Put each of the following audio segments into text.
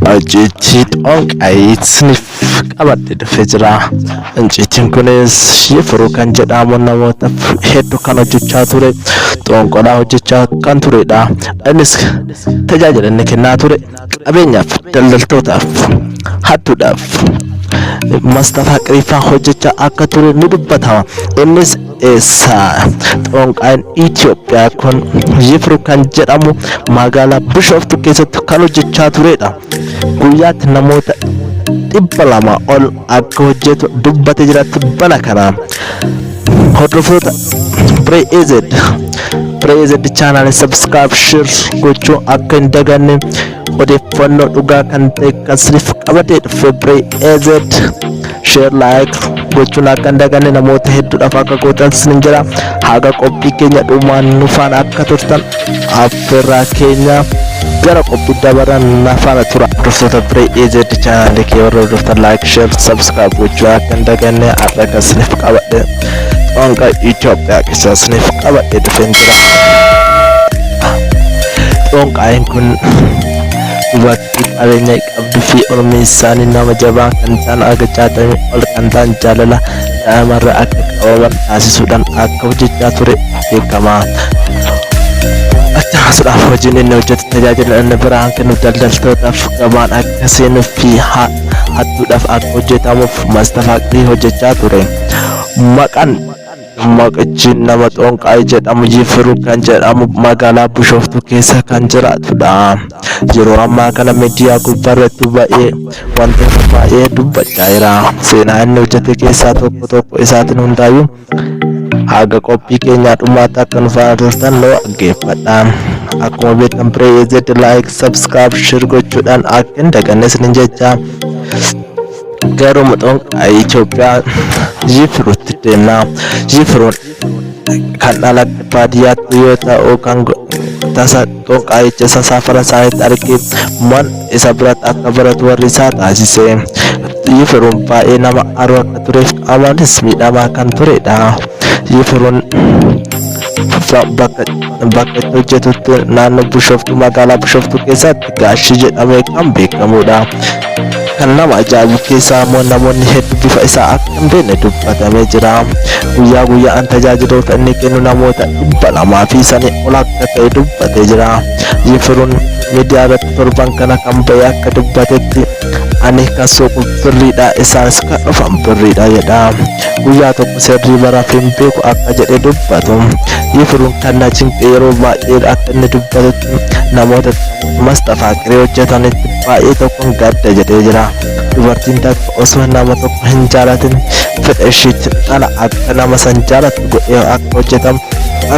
Hojjeechi xooqayiitni qabadhe dhufe jira. Inciitiin kunis shifiruu kan jedhamu namoota hedduu kan hojjechaa ture xoonqolaa hojjechaa kan turedha. Innis tajaajila inni kennaa ture qabeenyaaf, daldaltootaaf, hattuudhaaf, mastafaa qiriffaa hojjechaa akka ture ni dubbatama. Innis Eessaa? Xoonqaayin Itoophiyaa kun Yifru kan jedhamu magaalaa Bishooftuu keessatti kan hojjechaa turedha. Guyyaatti namoota dhibba lama ol akka hojjetu dubbate jira tibbana kana. Hordoftoota Biree EZ Biree EZ chaanaalii subscribe share gochuu akka hin daganne odeeffannoo dhugaa kan ta'e kan siniif qabadee dhufe Biree EZ. share like gochuun akka hin daganne namoota hedduudhaaf akka gootan sin jira haga qophii keenya dhumaan nu faana akka turtan affeerraa keenya gara qophii dabaran na faana tura dursoota biree AZ chaanaalii kee warra hordoftan like share subscribe gochuun akka hin daganne har'a kan isiniif qabadhe qoonqa Itoophiyaa keessaa isiniif qabadhe dhufeen jira qoonqaayin kun dubartii Abbootii qabeenya qabdu fi ormi isaanii nama jabaa kan ta'an haga 60 ol kan ta'an jaalala daa'imarraa akka qabaman taasisuudhaan akka hojjechaa ture beekama. Akkasumas hojiin inni hojjetu tajaajila inni biraan kennu daldaltootaaf gabaan akka seenuu fi hattuudhaaf akka hojjetamuuf mastafaaqrii hojjechaa ture. Maqaan Maqchi nama Xonqaay jedhamu Jifiru kan jedhamu magaalaa Bushooftuu keessa kan jiraatudha. Yeroo ammaa kana miidiyaa gubbaarratti ba'ee wantoota baay'ee dubbachaa jira. Seenaa inni hojjete keessaa tokko tokko isaatiin hundaayyuu haga qophii keenyaa dhumaatti akka nu faana turtan nu dhaggeeffadha. Akkuma beektan Piree EZ like, subscribe, share gochuudhaan akka hin daganne isinin jechaa. Garuu muxoon Itoophiyaa Jifiruutti deemna. Jifiruun kan dhala baadiyyaatti yoo ta'u kan tasa xonqaayicha isa saafara isaaniitti argee man isa biratti akka baratu warri isaa taasise. Jifiruun baay'ee nama aaruu akka tureef amanis miidhamaa kan turedha. Jifiruun bakka itti hojjetutti naannoo Bishooftuu magaalaa Bishooftuu keessatti Gaashii jedhamee kan beekamudha. Kan nama ajaa'ibu keessaa immoo namoonni hedduu bifa isaa akka hin beekne dubbatamee jira. Guyyaa guyyaan tajaajiloota inni kennu namoota dhibba lamaa fi sanii ol akka ta'e dubbatee jira. Yifiruun miidiyaa irratti torban kana kan ba'e akka dubbatetti ani kan suuqu birriidha isaanis kan dhufan birriidha jedha. Guyyaa tokko sirrii baraaf hin beeku akka jedhe dubbatu. Yifiruun kan na cinqe yeroo baay'ee akka inni dubbatutti namoota Masxafaa qiree hojjetanitti baay'ee tokkoon gadda jedhee jira. Dubartiin takka osoo nama tokko hin jaalatin fedha ishiitti dhala akka nama san jaalatu godhee akka hojjetamu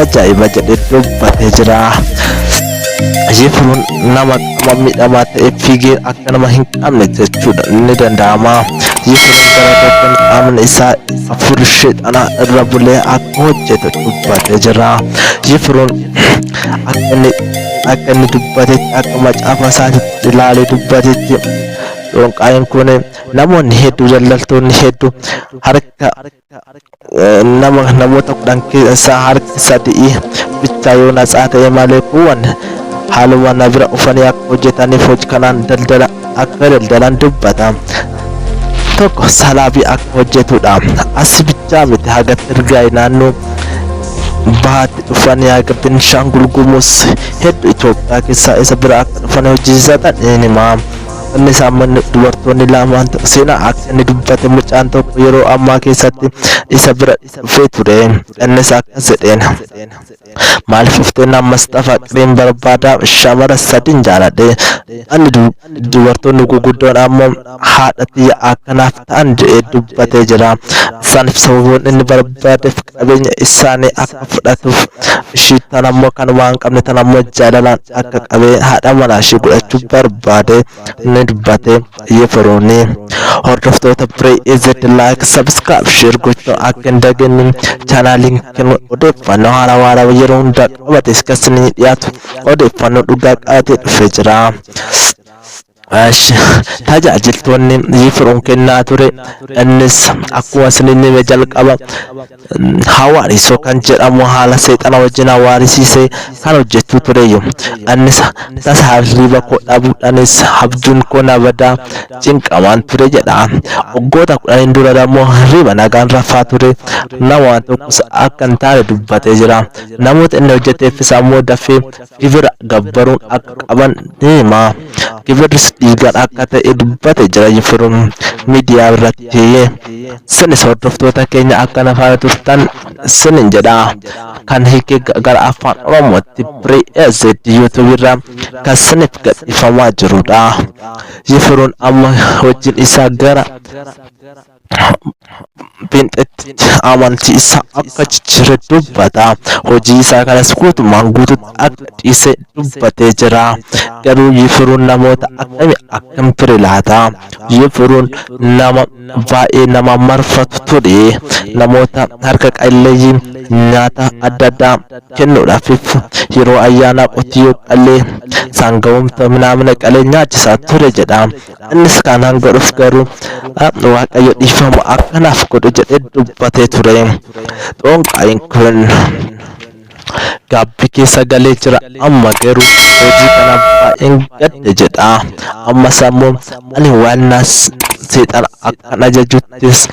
ajaa'iba jedhee dubbatee jira. Yifiruun nama qama miidhamaa ta'e fiigee akka nama hin qabne jechuudha ni danda'ama. Yifiruun gara tokkoon qaamni isaa hafuurri sheexanaa irra bulee akka hojjetu dubbatee jira. Yifiruun akka inni dubbatetti akka macaafa isaatitti ilaalee dubbatetti xonqaayin kun namoonni hedduu daldaltoonni hedduu harka nama namoota kudhan keessaa harki sadii bichaa yoo natsaa ta'e malee kuuwwan haaluma na bira ufanii akka hojjetaniif hojii kanaan daldala akka daldalan dubbata. Tokko salaabii akka hojjetudha. Asi bichaa miti haga Tirgaay naannoo bahaatti dhufan haga Beenishaangul Gumuz hedduu Itoophiyaa keessaa isa bira akka dhufan hojjisiisatan ni hima. Inni isaa manni dubartoonni lamaan tokko seenaa akka inni dubbate mucaan tokko yeroo ammaa keessatti isa bira dhufee ture. Innis akkas jedheen. maal shufteen ammas xafa qiriin barbaada shamara sadin jaaladhe ani dubartoonni guguddoon ammoo haadha tiyya akkanaaf ta'an je'ee dubbatee jira isaaniif sababoon inni barbaadeef qabeenya isaanii akka fudhatuuf ishii tan ammoo kan waan qabne tan ammoo jaalalaan akka qabee haadha manaa ishii godhachuu barbaade ni dubbate yifiruuni hordoftoota biree izid laayik sabskraayib sheer gochuu akka hin daganne chaanaaliin kun odeeffannoo haaraa waaraa yeroo hundaa qabate iskas ni dhiyaatu odeeffannoo dhugaa qabatee dhufee jira. Ash, tajaajiltoonni yifiruun kennaa ture innis akkuma isiniin hime jalqaba Hawaariisoo kan jedhamu haala seexana wajjin hawaarisiisee kan hojjechuu tureeyyu. Annis tasa hirriiba koo dhabuudhanis habjuun koo na badaa cinqamaan ture jedha. Waggoota kudhaniin durarammoo hirriiba nagaan rafaa ture. Nama waan tokkos akka hin taane dubbatee jira. Namoota inni hojjeteeffis ammoo dafee gibira gabbaruun akka qaban ni hima. Gibirris dhiigaan akka ta'e dubbate jira Yifiruu miidiyaa irratti. Isinis hordoftoota keenya akka na faana turtan isinin jedha. Kan hiike gara afaan Oromootti Free AZ YouTube irraa kan isiniif gadhiifamaa jirudha. Yifiruun amma hojiin isaa gara Phenxeetti amantii isaa akka jijjiire dubbata. Hojii isaa kanas guutumaan guututti akka dhiise dubbatee jira. Garuu Yifiruun namoota akkamii akkam ture laata? Yifiruun nama baay'ee nama marfatu ture. Namoota harka qalleeyyii nyaata adda addaa kennuudhaafif yeroo ayyaanaa qotiyyoo qalee saangawumta minaamina qalee nyaachisaa ture jedha. Innis kanaan godhus garuu Waaqayyo dhiifama akka naaf godhu jedhee dubbatee ture. Xoonqaayiin kun gaabbii keessa galee jira amma garuu hojii kana baay'een gadde jedha. Ammas ammoo ani waan naas seexana akkan ajajuttis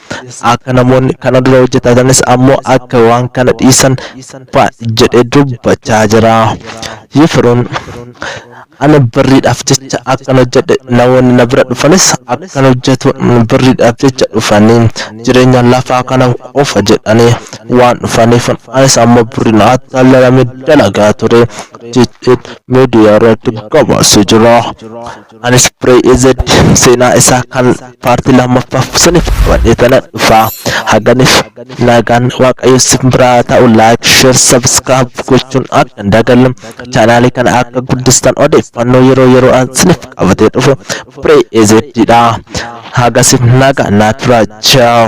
akka namoonni kana dura hojjetatanis ammoo akka waan kana dhiisan jedhee dubbachaa jira. Yifiruun Ani birriidhaaf jecha akkan hojjedhe namoonni na bira dhufanis akkan hojjetu birriidhaaf jecha dhufanii jireenya lafaa kana qofa jedhanii waan dhufaniif anis ammoo birriin attaallalame dalagaa ture jechuun miidiyaa irratti gabaasee jira. Anis Biree EZ seenaa isaa kan paartii lammaffaaf siniif qabadhee tana dhufa. Haganiif nagaan waaqayyo sin biraa ta'u like share subscribe gochuun akka hin dagalle. Chaanaalii kana akka guddistan odeeffannoo yeroo yeroo an sinif qabatee dhufu Pray AZ dha. Hagasif naga naa turaa. Ciao.